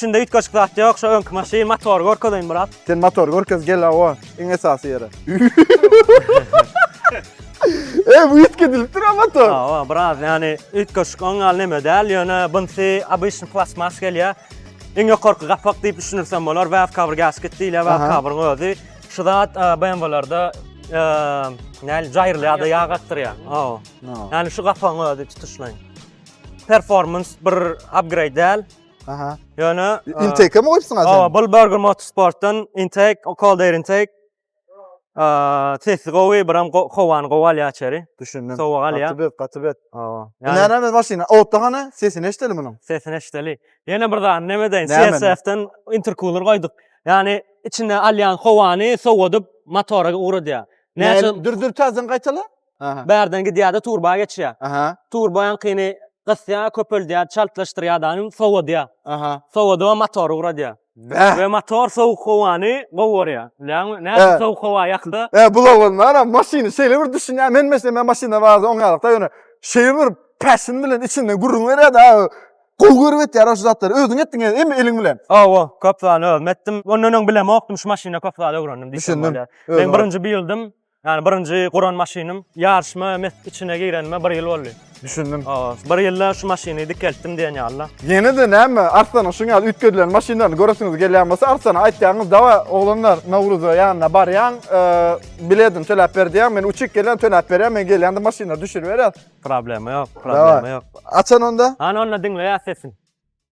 Içinde üýtgeşik zat ýok, şu öňki maşyn, motory görkezeýin biraz. Sen motory görkez gel hawa, iň esasy ýere. Eý, bu üýtgedilipdir ha motor. Hawa, biraz ýani üýtgeşik oň ýaly neme däl, ýöne bunysy obyçny plastmas gelýär. Iň ýokarky gapak diýip düşünirsem bolar, valve cover gasket diýilýär, valve coveryň özi. Şu zat BMW-lerde näl jaýrylýar-da ýag akdyrýar. Hawa. Ýani şu gapagyň özi tutuşlaýyn. Performans bir upgrade däl. Aha. Ýöne intake mi goýupsyň asyň? Hawa, bul Burger Motorsportdan intake, o cold air intake. Aa, sesi gowy, biram howany gowy alýar içeri. Düşündim. Sowuk alýar. Gaty bet, gaty bet. Hawa. Näme biz maşyna? Otda hany? Sesini eşdeli munuň. Sesini eşdeli. Ýene bir zat, näme deýin? CSF-den intercooler goýduk. Ýani içine alýan howany sowadyp motora ugradýar. Näçe? Dür dür täzeden gaýtala. Aha. Bärden gidýär-de turba geçýär. Aha. Turbaňkyny gysýar, köpeldýär, çaltlaşdyrýar daýym, sowadýar. Aha. Sowadyp motory guradýar. Bäh. We motor sowuk howany gowarýar. Bilýäňmi? Nädip He. sowuk howa ýakdy? E bul oglanlaram maşyny şeýle bir düşünýär. Men meselem men maşynda baza oňýarykda ýöne şeýle bir passion bilen içinden gürrüň berýär-de. Gowy görüp etýär-ä şu zatlary. Özüň etdiň e, emmi eliň bilen. Hawa, köp zany özüm etdim. Ondan öň bilemokdym, şu maşyna köp zat öwrendim diýsem Düşündim. bolýar. Özüň Men birinji bildm. Ýani birinji guran maşynym. Ýaryşma mes içine girenime bir ýyl boldy. Düşündim. Hawa, bir ýylda şu maşyny dikeltdim diýen ýaly-da. Ýene-de näme, Arslanyň şuň ýaly üýtgedilen maşynlaryny göresiňiz gelýän bolsa, Arsana aýtýaňyz, Dawa, oglanlar, Nowruza ýanyna barýaň, biledini töläp ber diýýäň, men uçup gelýän, töläp berýän, men gelýän-de maşynlary düşürip berýän. Problema ýok, problema ýok. Dawa, açan onda. Hany onda diňleýäs sesiň.